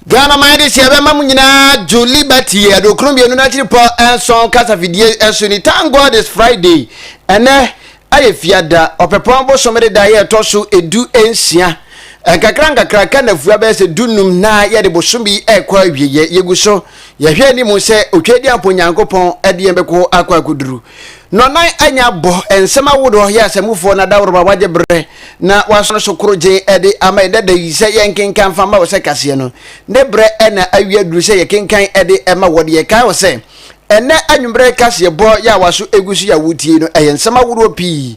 Ghana man de hyɛ bɛma mu nyinaa dwo Liberty yɛ adokron mmienu n'akyiri pɔ nson kasafidie ɛso ni Thank God it's Friday ɛnɛ ɛyɛ fiada ɔpɛpɔn bosom de da yɛ ɛtɔ so edu nsia nkakra nkakra ka nafua bɛyɛ sɛ du num na yɛde bosom bi ɛkɔ awie yɛ yɛgu so yɛhwɛ anim sɛ otwa di ampo Nyankopɔn ɛde yɛn bɛkɔ akɔ akɔduru Nɔnan a nya bɔ nsɛm ahodoɔ yɛ asɛmfoɔ no adaworoba wagye berɛ na waso no so koro gye de ama yɛn dada yi sɛ yɛnkenkan mfa mma wo sɛ kaseɛ no ne berɛ na awie aduru sɛ yɛkenkan de ma wɔ de yɛkae wɔ sɛ ɛnnɛ anwummerɛ kaseɛ bɔ yɛ a waso gu so yɛ a wotie no ɛyɛ nsɛm ahodoɔ pii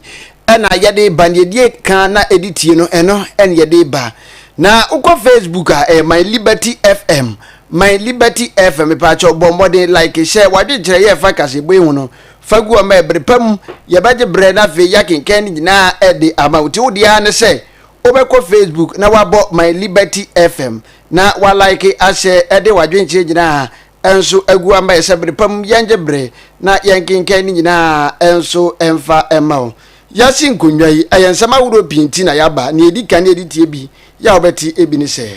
na yɛde ba neɛ die ka na ɛde tie no ɛno ne yɛde ba na wokɔ facebook a ɛyɛ my liberty fm My Liberty FM mepaakyɛw bɔ mmɔden like hyɛ w'adwenkyerɛ yɛ fa kaseɛbɔ yi ho no fa gu hɔ ma ɛbere pa mu yɛbɛgye berɛ na afei yɛakenkan ne nyinaa de ama wo ti wo deɛ ara ne sɛ wobɛkɔ Facebook na wabɔ My Liberty FM na wa like ahyɛ ɛde w'adwenkyerɛ nyinaa ɛnso agu ama yɛ sɛ bere pa mu yɛngye berɛ na yɛnkenkan ne nyinaa ɛnso ɛmfa ɛma wo yɛasi nkonnwa yi ɛyɛ nsɛm ahorow pii nti na yɛaba nea ɛdi kan ne yɛde tie bi Yɛ a wobɛte bi ne sɛ.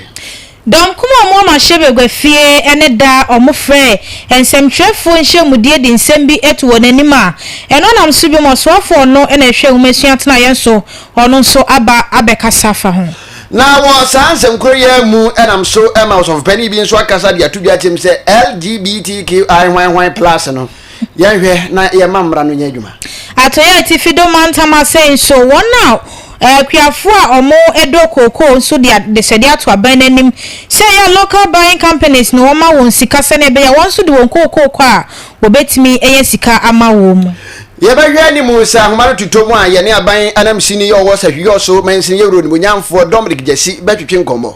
Dɔm kumaa a wɔama hyɛ bagua fie ne da a wɔfrɛɛ nsɛmtwerɛfoɔ nhyiamudie de nsɛm bi to wɔn anim a ɛno nam so biom ɔsoafoɔ a ɔno na ɛhwɛ nwomasua tenaeɛ nso ɔno nso aba abɛkasa afa ho. Na wɔ saa nsɛmkorɔ yi ara mu nam so ma ɔsɔfopanin bi nso akasa de ato dwa akyɛm sɛ LGBTQI hwan hwan plus no. Yɛnhwɛ na yɛmma mmara no nyɛ adwuma. Atɔe Atifi do mantam ase nso, wɔn a akuafo a wɔdɔ kookoo nso de adesrɛde ato aban no anim sɛ ɛyɛ a local buying companies no wɔmma wɔn sika sɛnea ɛbɛyɛ a wɔn nso de wɔn kookoo kɔ a wɔbetumi anya sika ama wɔn mu. Yɛbɛhwɛ anim sɛ nhoma no totɔ mu a yɛne aban anamsini a ɔwɔ Sahwiyɔ so mansini yɛ wura onimonyamfoɔ Dominic Gyasi bɛtwetwe nkɔmmɔ.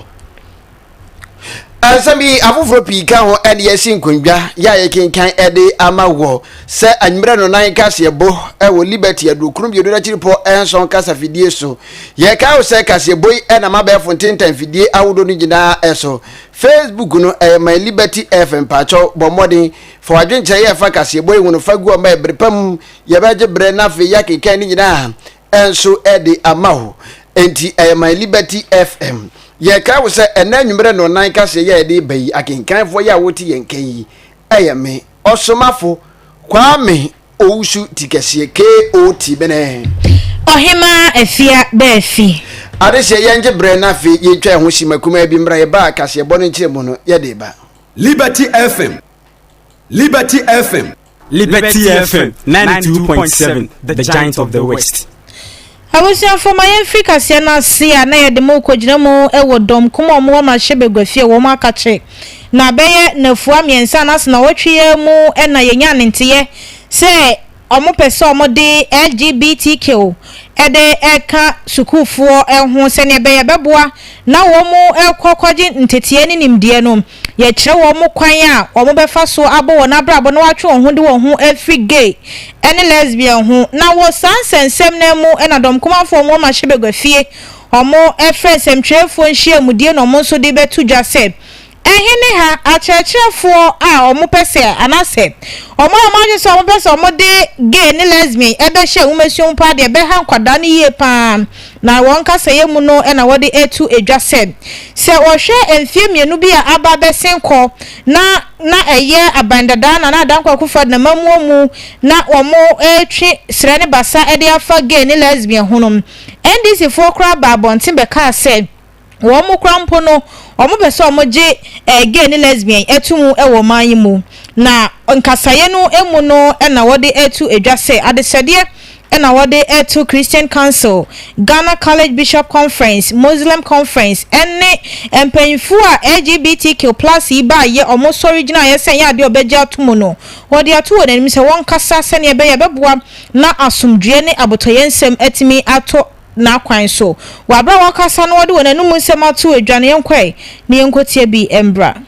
Nsɛm yi afoforɔ pii ka ho ne yɛasi nkondwa yɛ a yɛkenkan de ama wɔ sɛ anwummerɛ no nan kaseɛbɔ wɔ Liberty Aduokron Mmienu no akyiripɔ nson kasa fidie so. Yɛkae wo sɛ kaseɛbɔ yi nam abɛɛfo ntentan fidie ahodoɔ no nyinaa so. Facebook no ɛyɛ man Liberty FM mpakyɛw bɔ mmɔden fa w'adwenkyerɛ yɛ fa kaseɛbɔ yi ho no fa gu hɔ ma yɛ bere pa mu yɛbɛgye berɛ na afei yɛakenkan ne nyinaa nso de ama wo. Enti ɛyɛ My Liberty FM. Yɛkae wo sɛ ɛnɛ anwummerɛ no nan kaseɛ yɛ yɛde ba yi, akenkanfoɔ yɛ a wote yɛn nka yi, ɛyɛ me, Ɔsomafo Kwame Owusu Tikɛseɛ, KO Tibene. Ɔhemaa Afia bɛ afi. Adehyeɛ yɛngye berɛ na afei yɛtwa ɛho sima kumaa bi mmra yɛba a kaseɛbɔ no nkyerɛmu no yɛde ba. Liberty FM Liberty FM. Liberty FM 92.7 The Giant of the West. Abusuafo ma yɛn firi kaseɛ no ase a na yɛde mo kɔgyina mu wɔ dɔm kum a wɔn wɔ mahyɛ baguafie wɔn akakye na bɛyɛ nafua mmiɛnsa anaasɛ na wɔtwe yɛ mu na yɛnya ne nteyɛ sɛ wɔn pɛ sɛ wɔn de LGBTQ ɛde ɛka sukuufoɔ ho sɛdeɛ bɛyɛ bɛboa na wɔn kɔ kɔgye nteteɛ ne nimdeɛ no Yɛkyerɛ wɔn kwan a wɔbɛfa so abɔ wɔn abrabɔ na wɔatwe wɔn ho de wɔn ho afiri gay ne lesbian ho. Na wɔ saa nsɛnsɛm no ara mu na Dɔm Kumanfoɔ wɔn mmarahyɛ bagua fie wɔfrɛ nsɛmtwerɛfoɔ nhyiamudie na wɔn nso de bɛto dwa sɛ ɛhe ne ha akyerɛkyerɛfoɔ a wɔpɛ sɛ anaasɛ wɔn a wɔn adwene sɛ wɔpɛ sɛ wɔde gay ne lesbian bɛhyɛ nwomasua mu paa deɛ ɛbɛha nkwadaa no yie paa. Na wɔn kasayɛ mu no na wɔde to dwa sɛ, sɛ wɔhwɛ mfeɛ mmienu bi a aba bɛsen kɔ na na ɛyɛ Aban Dada Nana Adda Nkoa Akufo-Addo n'amammuo mu na wɔretwe serɛ ne basa de afa gay ne lesbian ho no, NDCfoɔ koraa baa abɔnten bɛkaa sɛ, Wɔn mu koraa mpo no, wɔpɛ sɛ wɔgye gay ne lesbian to mu wɔ ɔman yi mu, na nkasaeɛ no mu no na wɔde reto dwa sɛ adesɛdeɛ na wɔde reto Christian Council, Ghana College Bishop Conference, Muslim Conference, ne mpanyinfoɔ a LGBTQ plus yi baayɛ wɔn sɔre gyinaeɛ sɛ ɛnyɛ adeɛ a wɔbɛgye ato mu no, wɔde ato wɔn anim sɛ wɔnkasa sɛdeɛ ɛbɛyɛ a ɛbɛboa na asomdwoeɛ ne abotɔyɛ nsɛm atumi atɔ n'akwan so. Wɔ aberɛ a wɔkasa no wɔde wɔn anom nsɛm ato adwane yɛnkɔɛ na yɛnkɔtia bi mbra.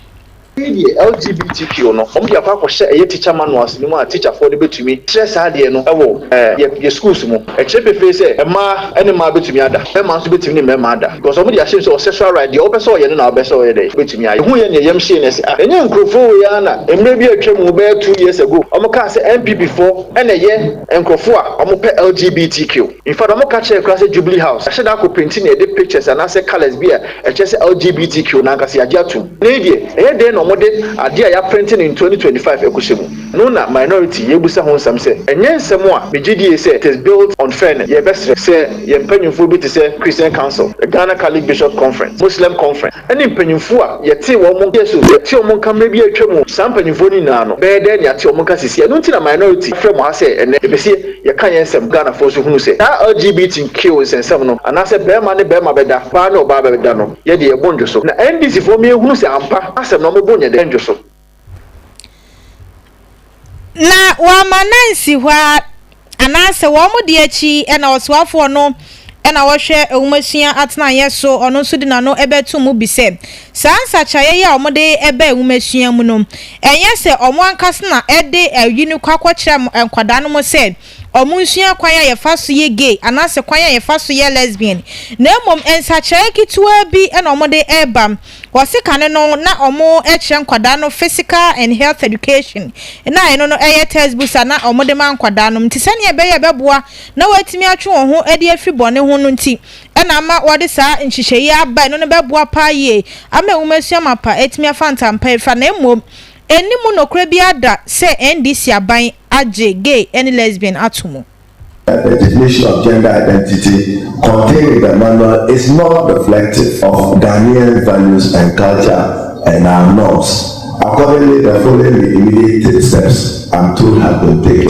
Wei deɛ LGBTQ no wɔn de akɔ akɔhyɛ ɛyɛ teacher manuals no mu a teacher foɔ de bɛtumi trɛ saa adeɛ no wɔ yɛ yɛ schools mu. Ɛkyerɛ pefee sɛ mmaa ne mmaa bɛtumi ada, mmarima nso bɛtumi ne mmarima ada because wɔn de ahyɛ mu sɛ wɔ sexual right deɛ wopɛ sɛ ɔyɛ no na wopɛ sɛ ɔyɛ dɛn wobɛtumi ayɛ. Yɛhu yɛ na yɛ yam hyee na yɛse ah ɛnyɛ nkurɔfoɔ wei ara na mmerɛ bi a atwa mu bɛyɛ two years ago wɔn kaa sɛ NPP foɔ na ɛyɛ nkurɔfoɔ a wɔn pɛ LGBTQ. Mfa dɔm ka kyerɛ koraa sɛ Jubilee House yɛahyɛ da akɔ penti na yɛde pictures anaasɛ colours bi a ɛkyerɛ sɛ LGBTQ no ankasa yɛagye atom. Nnɛ yi deɛ, ɛyɛ dɛn na wɔde adeɛ a yɛaprente no in twenty twenty five kɔhyɛ mu? No na minority yɛrebisa ho nsɛm sɛ ɛnyɛ nsɛm a megye die sɛ it is built on fairness. Yɛrebɛsrɛ sɛ yɛn mpanyimfoɔ bi te sɛ Christian Council, Ghana Catholic Bishops Conference, Muslim Conference, ɛne mpanyimfoɔ a yɛtee wɔn nka so, yɛtee wɔn nka mmerɛ bi a atwam, saa mpanyimfoɔ no nyinaa no bɛyɛ dɛn na yɛate wɔn nka seesei? Ɛno nti na minority frɛ mo ha sɛ ɛnnɛ yɛpɛ sɛ Yɛka yɛn nsɛm, Ghanafoɔ nso hunu sɛ saa LGBTQ nsɛnsɛm no, anaasɛ bɛɛma ne bɛɛma bɛda, baa ne ɔbaa bɛda no, yɛ deɛ yɛbo ndwo so. Na NDC foɔ mma yɛnhunu sɛ ampa asɛm no ɔmo bo nyɛ dɛ ndwo so. Na wɔama no ansi hɔ ara, anaasɛ wɔn de akyi na ɔsoafoɔ no na wɔhwɛ nwomasua atenaeɛ so, ɔno nso de n'ano bɛto mu bi sɛ, saa nsakyeraeɛ yi a wɔde reba nwomasua mu no, ɛnyɛ sɛ wɔn ankasa na ɛde ayi no kɔ akɔkyerɛ nkwadaa no mu sɛ wɔnsua kwan a yɛfa so yɛ gay anaasɛ kwan a yɛfa so yɛ lesbian, na mmom nsakyeraeɛ ketewa bi na wɔde reba. Wɔse kane no na wɔkyerɛ nkwadaa no physical and health education, na ɛno no yɛ textbooks a na wɔde ma nkwadaa no, nti sɛdeɛ ɛbɛyɛ a ɛbɛboa na wɔatumi atwe wɔn ho adi afiri bɔne ho no nti na ama wɔde saa nhyehyɛe yi aba. Ɛno no bɛboa paa yie ama nwomasua mapa atumi afa ntampa afira. Na mmom, ɛnni mu nokorɛ biara da sɛ NDC aban agye gay ne lesbian ato mu. The definition of gender identity contained in the manual is not reflective of Ghanaian values and culture and our norms. Accordingly, the following immediate steps am told have been taken.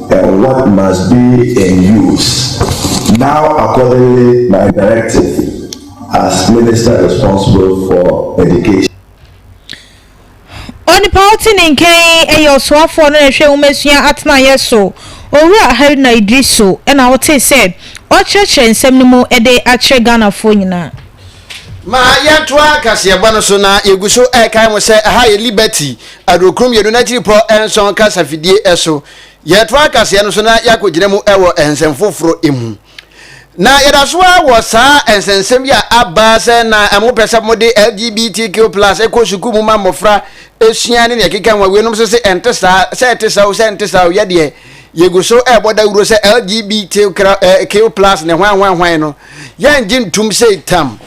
and what must be in use now accordingly my directive as minister responsible for education. Onipa a ɔte ne nkyɛn yɛ ɔsoafoɔ no na ɛhwɛ nwomasua atenaeɛ so, Owura Haruna Iddrisu na ɔtee sɛ ɔrekyerɛkyerɛ nsɛm no mu de akyerɛ Ghanafoɔ nyinaa. Ma yɛntoa kaseɛbɔ no so na yɛgu so ɛkae mo sɛ ɛha yɛ Liberty aduokron mmienu n'akyiripɔ nson kasafidie so. Yɛtoa kaseɛ no so na yɛakɔgyina mu wɔ nsɛm foforɔ mu. Na yɛda so ara wɔ saa nsɛnsɛm yi a aba sɛ na mopɛ sɛ mode LGBTQ plus kɔ sukuu mu ma mmɔfra sua ne deɛ ɛkeka ho awie nom so se ɛnte saa, sɛ ɛte saa o, sɛ ɛnte saa o, yɛdeɛ. Yɛgu so rebɔ dawuro sɛ LGBTQ plus ne hwan hwan hwan no, yɛngye ntum sei tam.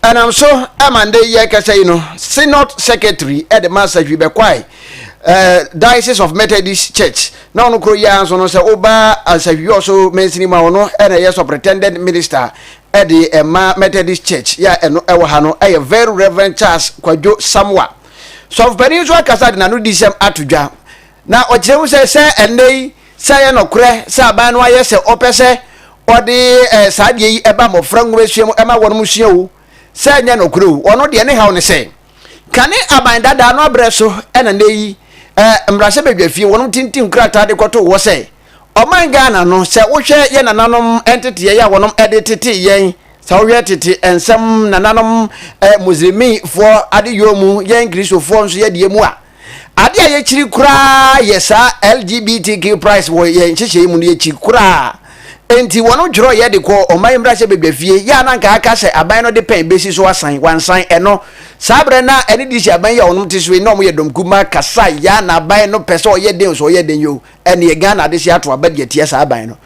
Ɛnam so ma nnɛ yi yɛrekasa yi no, Synod Secretary de ma Sahwi bɛkwae eh, Diocese of Methodist Church, na ɔno koro yi ara nso no sɛ woba Sahwi ɔso mansini mu a ɔno na ɛyɛ Superintendent Minister de ɛma Methodist Church yɛ a ɛno ɛwɔ ha no ɛyɛ Very Reverend Charles Kwadwo Samwa. Sɔfopanin nso akasa de n'anodisɛm ato dwa Na ɔkyerɛ mu sɛ, sɛ ɛnnɛ yi, sɛ ɛyɛ nokorɛ sɛ aban no ayɛ sɛ ɔpɛ sɛ ɔde saa adeɛ yi ba mmɔfra nwomasua mu ma wɔnom sua o, sɛ ɛnyɛ nokorɛ o, ɔno deɛ ne haw ne sɛ, kane aban dadaa no aberɛ so na nnɛ yi mmarahyɛbadwafie wɔnom tintim krataa de kɔtoo hɔ sɛ, ɔman Ghana no, sɛ wohwɛ yɛn nananom nteteɛ yɛ a wɔnom de tetee yɛn, sɛ wohwɛ tete nsɛm nananom Muslimifoɔ adeyɔɔ mu, yɛn Kristofoɔ nso yɛdeɛ mu a, Ade a yɛkyiri koraa yɛ saa LGBTQ price wɔ yɛn nhyehyɛe mu no, yɛkyiri koraa. Enti wɔdwerɛw yɛ de kɔɔ Ɔman Mmarahyɛ Badwa fie, yɛ a na anka aka sɛ aban no de pɛn bɛsi so asan, wɔansan ɛno. Saa berɛ no a ɛne DC aban yi a wɔnom te so yi na wɔyɛ dɔm kumaa kasa yɛ a na aban no pɛ sɛ ɔyɛ den o sɛ ɔyɛ den yoo, ɛnneɛ Ghana adehye ato aba de atia saa aban no.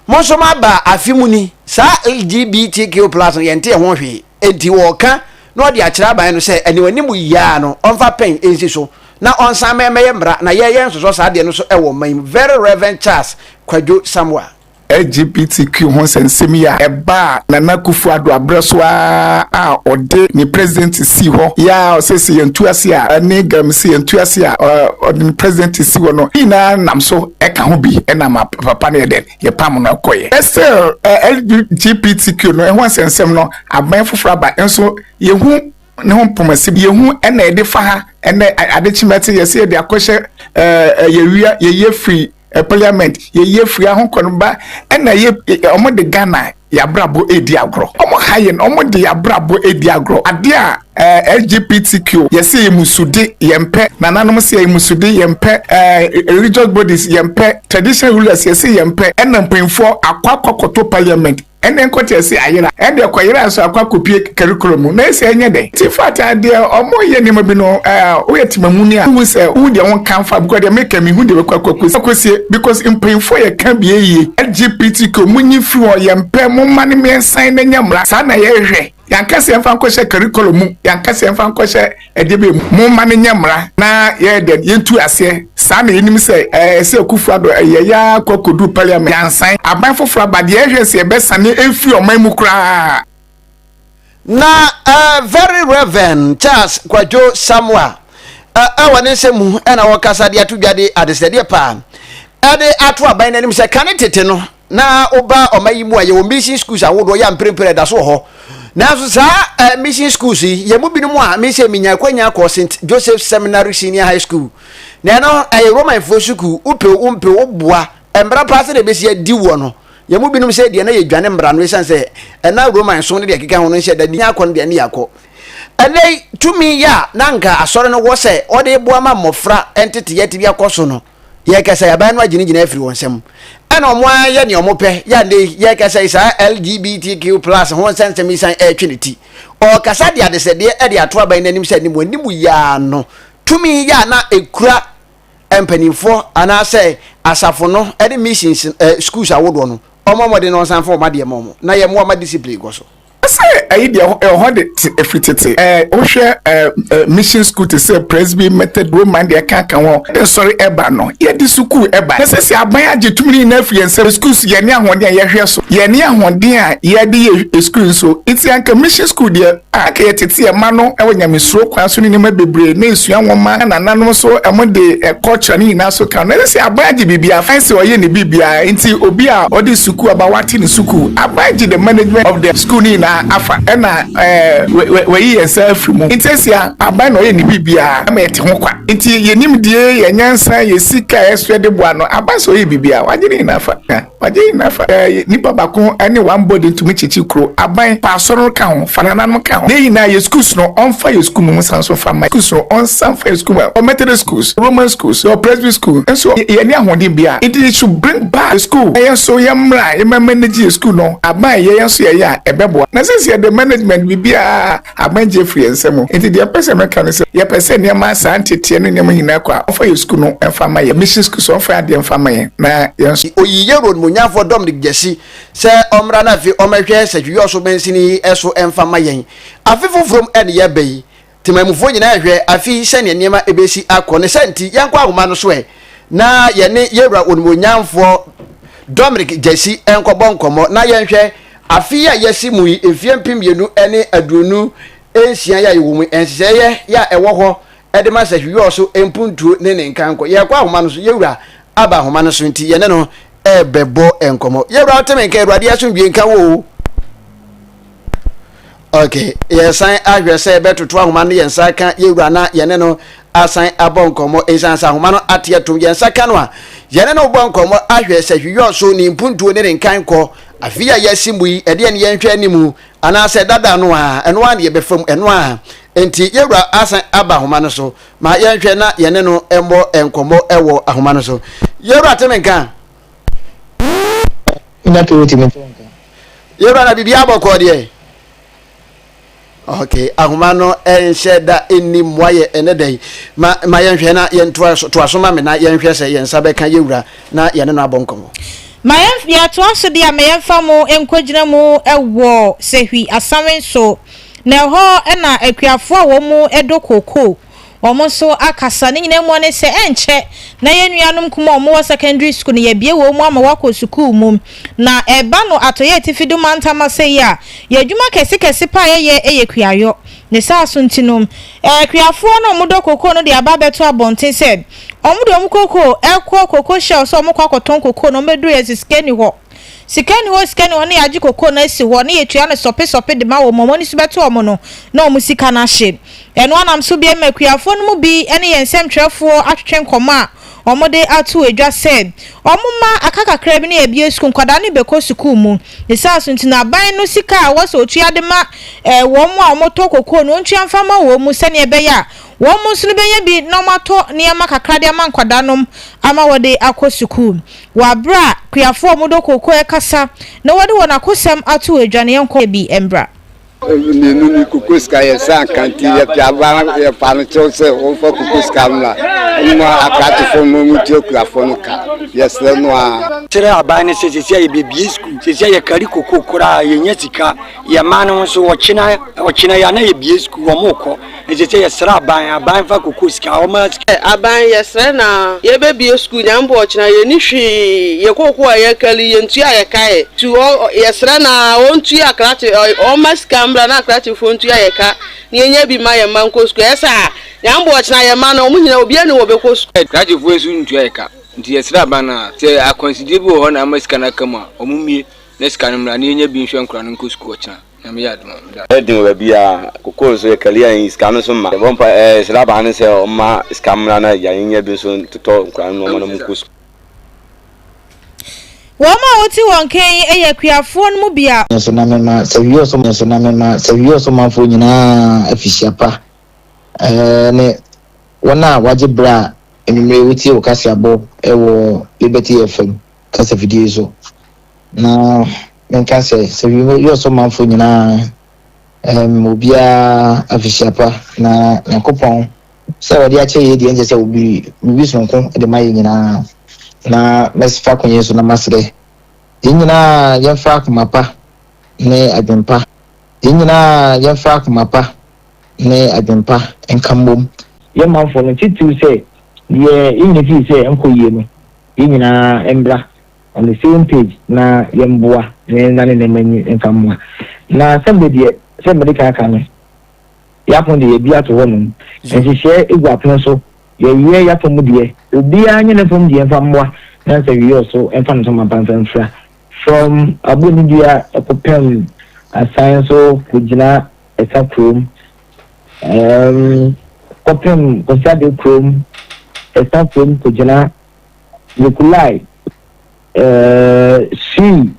Mo nso moaba afe mu ni, saa LGBTQ plus no yɛnte ɛho hwee. Enti wɔka na wɔde akyerɛ aban no sɛ ɛne wɔn anim yi ara no ɔmfa pɛn nsi so na ɔnsan ma ɛmmɛyɛ mmara na yɛn yɛnsosɔ saa adeɛ no so wɔ ɔman yi mu. Very Reverend Charles Kwadwo Samoa. LGBTQ ho nsɛnsɛm yi a ɛbaa Nana Akufo Addo aberɛ so ara a ɔde ne presidency sii hɔ yi a ɔse sɛ yɛntu ase a ne Galamsey yɛntu ase a ɔde ne presidency si hɔ no ne nyinaa nam so ɛka ho bi ɛnam a papa no yɛ dɛn? yɛpam no kɔeɛ. Still LGBTQ no ɛho nsɛnsɛm no aban foforɔ aba nso yɛhu ne ho mpɔmasi yɛhu ɛna yɛde fa ha ɛnɛ ade kye mɛte yɛsɛ yɛde akɔhyɛ ɛɛ yɛwia yɛyɛ firi parliament yɛyɛ firi ahokɔ no ba ɛna yɛ wɔn de Ghana Y'abrabɔ redi agorɔ. Ɔmo ha yɛn, ɔmo de y'abrabɔ redi agorɔ. Adeɛ a ɛɛ LGBTQ yɛse yɛ musude, yɛn pɛ. Nananom se yɛ musude, yɛn pɛ. Ɛɛ religious bodies yɛn pɛ. Traditional rulers yɛse yɛn pɛ. Ɛna mpanyinfoɔ akɔ akɔ kɔto parliament. Ɛnɛ nkɔte yɛse ayera. Ɛndeɛ kɔyera nso akɔ akɔ pue. curriculum mu na ɛsɛ ɛnyɛ dɛ ti fata deɛ ɔmo yɛ nneɛma bi no ɛɛ woyɛ temamuni a wohu sɛ wohu deɛ wɔn kan fa because deɛ meka mi hu deɛ bɛkɔ akɔ akɔsie because mpanyinfoɔ yɛ ka bie yie LGBTQ mo nyi firi hɔ yɛn mpɛ mo mma no mmiɛnsa na nya mmra saa na yɛ hwɛ yɛn kasa yɛn fa nkɔ hyɛ curriculum mu yɛn kasa yɛn fa nkɔ hyɛ ɛdeɛ bɛ mu mo mma no nya mmra na yɛ dɛ yɛn tu aseɛ saa na yɛn nim sɛ ɛɛ sɛ kufu ado ɛyɛ yɛ akɔ akɔdu parliament yɛn nsan aban foforɔ aba deɛ yɛ hwɛ sɛ yɛ bɛ sane efiri ɔman mu koraa. na uh, very reverend charles kwadwo samoa ɛwɔ ne nsɛm mu ɛna wɔkasa de ato dwa de adesrɛdeɛ paa ɛde ato aban no anim sɛ kane tete no na woba ɔma yi mu a yɛwɔ mission schools ahodoɔ yɛ mprempren ɛda so wɔ hɔ nanso saa mission schools yi yɛn mu binom a mesɛ menya akwanya kɔ st joseph seminary senior high school na ɛno ɛyɛ romanfoɔ sukuu wopew wompɛ woboa mmara paa sɛ na ɛbɛsi adi woɔ no Yɛn mu binom sɛɛ deɛ na yɛdwane mmara no ɛsiane sɛ ɛna Roma nsom ne deɛ ɛkeka ho no nhyɛ da nni yɛn akɔ no deɛ ne yɛakɔ. Ɛnnɛ yi, tumi yɛ a na anka Asɔre no wɔ sɛ ɔde reboa ma mmɔfra nteteyɛ tebea akɔ so no, yɛrekasa yi, aban no agyinagyina afiri wɔn nsam. Ɛna wɔayɛ deɛ wɔpɛ. Yɛ a ɛnnɛ yi, yɛrekasa yi, saa LGBTQ plus ho nsɛnsɛm yi san retwe ne ti. Ɔrekasa de adesrɛdeɛ de ato aban no anim sɛ ne mu animu yi ara no, tumi yɛ a na ɛkura mpanimfoɔ anaasɛ asafo no ne missions eh, schools ahodoɔ no ɔma mmɔden na ɔnsan fa ɔma deɛ ma ɔmo na yɛmmoa ma discipline kɔ so. Sɛ ɛyi deɛ ɛhɔ de te ɛfiri tete ɛɛ wohwɛ ɛɛ mission school te sɛ Presby Method Roman deɛ ɛka ka ho nsɔre ɛba no yɛde sukuu ɛba na sɛsi aban agye tumi no nyinaa afiri yɛn nsam sukuu so yɛne ahoɔden a yɛhwɛ so yɛne ahoɔden a yɛde yɛ sukuu nso nti anka mission school deɛ a anka ɛyɛ tete ɛma no wɔ nyamesuro kwan so ne nneɛma bebree ne nsua nwoma na nananom nso wɔde culture ne nyinaa so ka no ɛsɛ sɛ aban gye biribiara fine sɛ ɔyɛ ne biribiara nti obi a ɔde sukuu aba wate ne sukuu aban gye the management of the school ne nyinaa afa ɛna ɛɛ wɔyi yɛn nsa afiri mu nti ɛsia aban na ɔyɛ ne biribiara ɛma yɛte ho kwa nti yɛnim die yɛn nyansa yɛ sika ɛso yɛde boa no aban sɛ ɔyɛ biribiara wagye ne nyinaa fa. Ɔgye nyinaa fa sɛ ɛyɛ nipa baako ne one body ntumi kyekye kuro, aban, pa asɔre no ka ho, fa nananom no ka ho. Neyɛ nyinaa yɛ schools no ɔnfa yɛ school mu nsan nso nfa mma yɛ schools no ɔnsan nfa yɛ school mu a yɛwɔ Methodist schools, Roman schools, yɛwɔ Presby school nso a yɛnni ahoɔden biara nti they should bring back the school na yɛn nso yɛ mmra yɛ mma manage yɛ school no, aban yɛ yɛn nso yɛyɛ a ɛbɛboa na since yɛde management biribiara. Aban gye firi yɛn nsam. Enti deɛ mpɛ sɛ meka ne sɛ, yɛpɛ sɛ nneɛma saa nteteɛ ne nneɛma nyinaa kɔ a, wɔmfa yɛn sukuu no mfa mma yɛn. Mission School so, wɔmfa yɛn adeɛ mfa mma yɛn na yɛn. Ɔyii yɛn Wura Onimuonyamfoɔ Dominic Gyasi sɛ ɔmmra na afei ɔmmɛhwɛ Sɛtwidwɔso Mansini yi so mfa mma yɛn. Afe foforɔ mu ne yɛreba yi, temanmufoɔ nyinaa rehwɛ afe yi sɛdeɛ nneɛma bɛsi akɔ. Ne saa nti, yɛnkɔ ahoma no so ɛ na yɛne yɛn Wura Onimuonyamfoɔ Dominic Gyasi nkɔbɔ nkɔmmɔ na yɛnhwɛ Afe yi a yɛasi mu yi, mfeɛ mpem mmienu ne aduonu nsia yi a yɛwɔ mu yi, nhyehyɛeɛ yi a ɛwɔ hɔ de ma sɛ Hwiɔ so mpuntuo ne ne nkanko. Yɛrekɔ ahoma no so, Yɛwura aba ahoma no so nti, yɛne no rebɛbɔ nkɔmmɔ. Yɛwura, wote me nka? Awurade asomdwoeɛ nka wo o. Ok, yɛsan ahwɛ sɛ yɛbɛtoto ahoma no yɛn nsa aka yɛn wura na yɛne no asan abɔ nkɔmmɔ. Esiane sɛ ahoma no ate atom yɛn nsa ka no a, yɛne no rebɔ nkɔmmɔ ahwɛ sɛ hwiyɔɔ so ne mpuntuo ne ne nkan kɔ. Afei a yɛasi mu yi, ɛdeɛn ne yɛnhwɛ anim? Anaasɛ dada no ara, ɛno ara na yɛbɛfa mu, ɛno ara? Enti yɛn wura asan aba ahoma no so. Ma yɛnhwɛ na yɛne no mmɔ nkɔmmɔ wɔ ahoma no so. Yɛn wura te me nka. Nya kɛ wotumi to nka. Yɛwura na biribi abɔkɔ deɛ. Okay, ahoma no ɛnhyɛ da ɛnni mmoa yɛ ɛnɛ da yi. Ma ma yɛnhwɛ na yɛntoa so toa so ma me na yɛnhwɛ sɛ yɛn nsa bɛka yɛwura na yɛne no abɔ nkɔmmɔ. Ma yɛn yɛtoa so deɛ ma yɛmfa mo nkɔgyina mu wɔ Sehwi Asawen so. Na ɛhɔ na akuafoɔ a wɔn mu dɔ kookoo wɔn nso akasa. Ne nyinaa mu ne sɛ, ɛnkyɛ na yɛn nuanom nkumaa a wɔwɔ secondary school no, yɛabue wɔn mu ama wɔakɔ sukuu mu. Na ɛreba no Atɔeɛ Atifi do mantam ase yi a, yɛn adwuma kɛsekɛse paa a yɛyɛ yɛ kuayɔ. Ne saa so nti no, akuafoɔ no a wɔdɔ kokoo no de aba abɛto abɔnten sɛ wɔde wɔn kokoo rekɔ cocoa shells a wɔkɔ akɔtɔn kokoo no, wɔbɛduru yɛ sɛ sika nni hɔ. Sika nni hɔ, sika nni hɔ, na yɛagye kokoo no asi hɔ, na yɛtua no sɔpe sɔpe de ma wɔn, wɔn ani so bɛto wɔn no, na wɔn sika no ahye. Ɛno ara nam so bio ma akuafoɔ no mu bi ne yɛn nsɛmtwerɛfoɔ atwetwe nkɔmmɔ a wɔde ato dwa sɛ wɔmma aka kakra bi na yɛabue sukuu, nkwadaa no rebɛkɔ sukuu mu. Ne saa so nti no, aban no sika a ɛwɔ sɛ ɔtua de ma wɔn a wɔtɔ kokoo no, ɔntua mfa mma wɔn, sɛdeɛ ɛbɛyɛ a wɔn nso no bɛnya bi na wɔatɔ nneɛma kakra de ama nkwadaa nom ama wɔde akɔ sukuu. Wɔ aberɛ a Kuyafoɔ a wɔdɔ kooko rekasa na wɔde wɔn akosɛm ato adwaneɛ nkɔ yɛ bi mmra. Mmienu ni, koko sika yɛ sɛ ankanti yɛ pia ba yɛ fa no kyɛw sɛ wɔn fa koko sika mmra wɔn mu akratofoɔ mu wɔn tua kuyafoɔ no ka yɛ srɛ no a. Kyerɛ aban no sɛ sɛsi a yɛ bɛ bie sukuu sɛsi a yɛ kari koko koraa yɛ nya sika yɛ mmaa no nso ɔkyena ɔkyena yɛ a na yɛ bie sukuu wɔn kɔ. Ɛkyerɛ sɛ yɛsrɛ aban, aban fa kɔkɔɔ sika, wɔn ara sika. Aban yɛsrɛ na yɛbɛbie sukuu nyame boɔ ɔkyena yɛnni hwee yɛ kɔkɔɔ a yɛkari yɛntua yɛ ka ɛ tu ɔ yɛsrɛ na wɔntua akrate ɔ wɔmma sika mmra na akratefoɔ ntua yɛ ka na yɛnya bi mma yɛ mma nkɔ sukuu ɛyɛ saa nyame boɔ ɔkyena yɛ mma no wɔn nyina obiara ni wɔbɛkɔ sukuu. Akratefoɔ nso ntua yɛ ka nti yɛsrɛ aban na sɛ akwansideɛ bi wɔ hɔ na ama sika no aka mu a wɔn mmie na sika no mmra na yɛnya bi nhwɛ nkora no nkɔ sukuu ɔkyena. Nyame yɛ adom a meda ase. Ɛden wɔ baabi a kokoo nso yɛ kari a ɛyi sika no nso mma. Yɛbɔ mpa ɛ srɛ abaa no sɛ ɔmma sika mmra na agya yɛnyɛ bi nso ntotɔ nkwadaa no nnoɔma na ɔmo nkɔ sukuu. Wɔn a wote wɔn nka yi yɛ akuafoɔ no mu bi a. Nanso na mema Sɛwiɛ-Ɔsɔmanfoɔ na mema Sɛwiɛ-Ɔsɔmanfoɔ nyinaa afihyia pa, ɛɛ ne wɔn a wɔagye berɛ a anwummere wotie wo kaseɛbɔ wɔ Liberty FM kasafidie so na menka sɛ sɛ wiyɛ ɔsɔmanfoɔ nyinaa ɛm obiara afihyiapa na nyankopɔn sɛ wɔde akyɛ yɛ deɛ nkyɛ sɛ obi biribi sonko de ma yɛ nyinaa na mɛsfa konyɛ so na masrɛ yɛn nyinaa yɛmfa akoma pa ne adwempa yɛn nyinaa yɛmfa akoma pa ne adwempa nka mmom yɛn manfoɔ no titiriw sɛ deɛ yɛnyɛ fii sɛ nkɔ yie no yɛn nyinaa mmra on the same page na yɛmboa na yɛnna ne nneɛma ani mfa mmoa. Na sɛm de deɛ, sɛdeɛ mede kan aka no, yɛapono deɛ yɛabue ato hɔnom, nhyehyɛɛ gu apono so, yɛyɛ yɛafa mu deɛ, obiara nyɛ ne fam deɛ mfa mmoa na nsa wie ɔso mfa ne ntoma pa mfa mfira. From Abonnidua kɔpem Asan so kɔgyina Ɛsa kurom um kɔpem Kɔsiade kurom, Esa kurom kogyina Nikolai, uh, Sui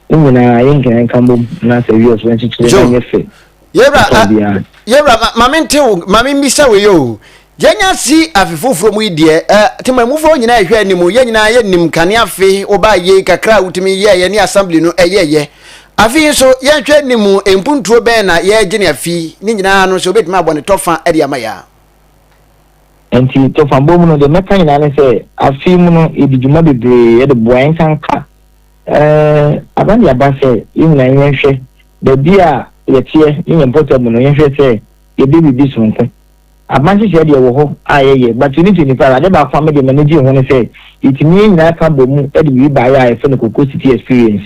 ne nyinaa yɛ nkenenka mbom na sɛ wiɛ so nkyekyere na nyɛ fɛ. Yɛwura, uh, yɛwura, ma, ma mente wo, ma memmisa wo yɛ o. Yɛnya si afe foforɔ mu yi deɛ, eh, temamufoɔ nyinaa ɛhwɛ anim, yɛn nyinaa yɛnim kane afe wobaa yei kakra a wotumi yɛɛyɛ ne assembly no ɛyɛɛyɛ. Afe yi nso, yɛnhwɛ anim, mpuntuo bɛn na yɛregye no afi ne nyinaa ano sɛ wobɛtumi abɔ ne tɔfa de ama yɛn a. Enti tɔfabɔ mu no, deɛ mɛka nyinaa ne sɛ, afe yi mu no, yɛdi dwuma bebree, yɛde boa yɛn nsa nka. Eh, aba deɛ aba sɛ yɛn nyinaa yɛnhwɛ baabi a yɛteɛ ne yɛn mpɔtam no, yɛnhwɛ sɛ yɛde biribi sononko. Aban nhyehyɛɛ deɛ wɔ hɔ a yɛyɛ but you need to inquire adeɛ baako a me deɛ m'ani gyee ho ne sɛ yɛtumi yɛn nyinaa ka bɔ mu de biribi baeɛ a yɛfrɛ no Koko City Experience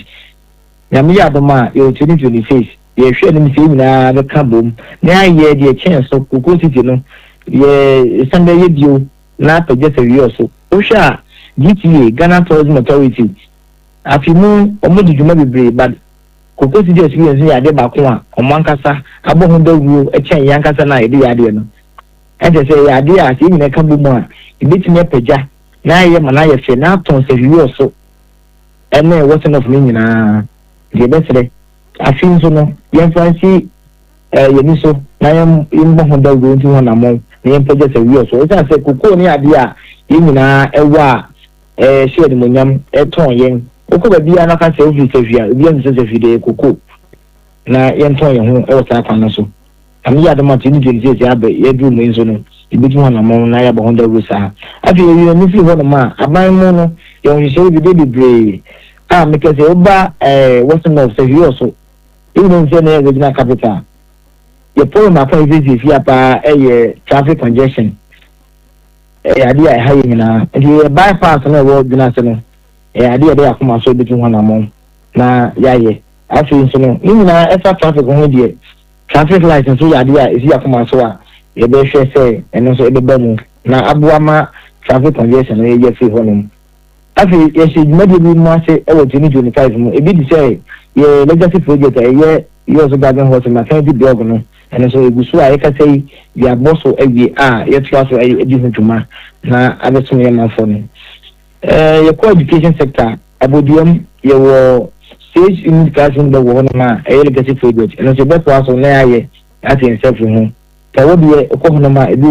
Nyame yɛ adom a yɛwɔ twenty twenty six yɛhwɛ anim sɛ yɛn nyinaa bɛka bɔ mu na yɛayɛ deɛ ɛkyɛn so Koko City no yɛ san bɛyɛ bio na apagya sɛ wiɔ so wohwɛ a GTA Ghana Tourism Authority afe mu wɔn de dwuma bebree but Kokosi de experience no yɛ adeɛ baako a wɔn ankasa abɔ ho dawuro kyɛn yɛn ankasa no a yɛde yɛ adeɛ no. Ɛnkyerɛ sɛ ɛyɛ adeɛ a sɛ yɛn nyinaa ka bɔ mu a, ɛbɛtumi apagya na ayɛ ma no ayɛ fɛ na atɔn sɛ hwiiɔ so ne wɔsen off no nyinaa. Nti yɛbɛsrɛ afei nso no yɛmfa nsi yɛn ani so na yɛmmɔ ho dawuro ntu ho anammɔn na yɛmpagya sɛ hwiiɔ so. Ɛsiane sɛ kokoo no yɛ adeɛ a yɛn nyinaa wɔ a, Ɛhyɛ animuonyam, ɛtɔn yɛn. Wokɔ baabiara na woka sɛ wofiri Safie a, obiara nim sɛ Safie deɛ yɛ koko, na yɛntɔn yɛn ho wɔ saa kwan no so. Nyame yɛ adom a 2020 seesei abɛ, yɛaduru mu yi nso no, yɛbɛtu ho anammɔn na yɛabɔ ho dawuro saa. Afei yɛyi yɛn ani firi hɔnom a, aban mu no, yɛwɔ nhyehyɛeɛ bi, ɛbɛyɛ bebree a mepɛ sɛ woba ɛɛ Western North, Safie wɔ so. Yɛn nyinaa nim sɛ na ɛyɛ regional capital. Yɛn problem baako a yɛsiesie fia paa yɛ traffic congestion. Ɛyɛ adeɛ a ɛha yɛn nyinaa. Enti yɛyɛ by pass no a ɛwɔ dwene ase no, ɛyɛ adeɛ a yɛde yɛn akoma so bɛtu ho anammɔn na yɛayɛ. Afei nso no, ne nyinaa ɛfa traffic ho deɛ, traffic light nso yɛ adeɛ a ɛsi yɛn akoma so a yɛbɛhwɛ sɛ ɛno nso ɛbɛba mu na aboa ma traffic congestion no yɛafiri hɔnom. Afei, yɛhyɛɛ dwumadie bi mu ase wɔ 2025 mu, ebi te sɛ yɛn Legacy Project a ɛyɛ Yours So Garden Horse Maternity Blog no, ɛno nso ɛgu so a yɛkasa yi de abɔ so awie a yɛtoa so di ho dwuma na abɛsom yɛn manfoɔ no. Yɛkɔ Education Sector a, Aboduam yɛwɔ Sage Unit Classroom Blog wɔ hɔnom a ɛyɛ Legacy Project, ɛno nso yɛbɛtoa so na yɛayɛ ate yɛn sɛfre ho. Sɛ wo deɛ wokɔ hɔnom a, ebi wɔ.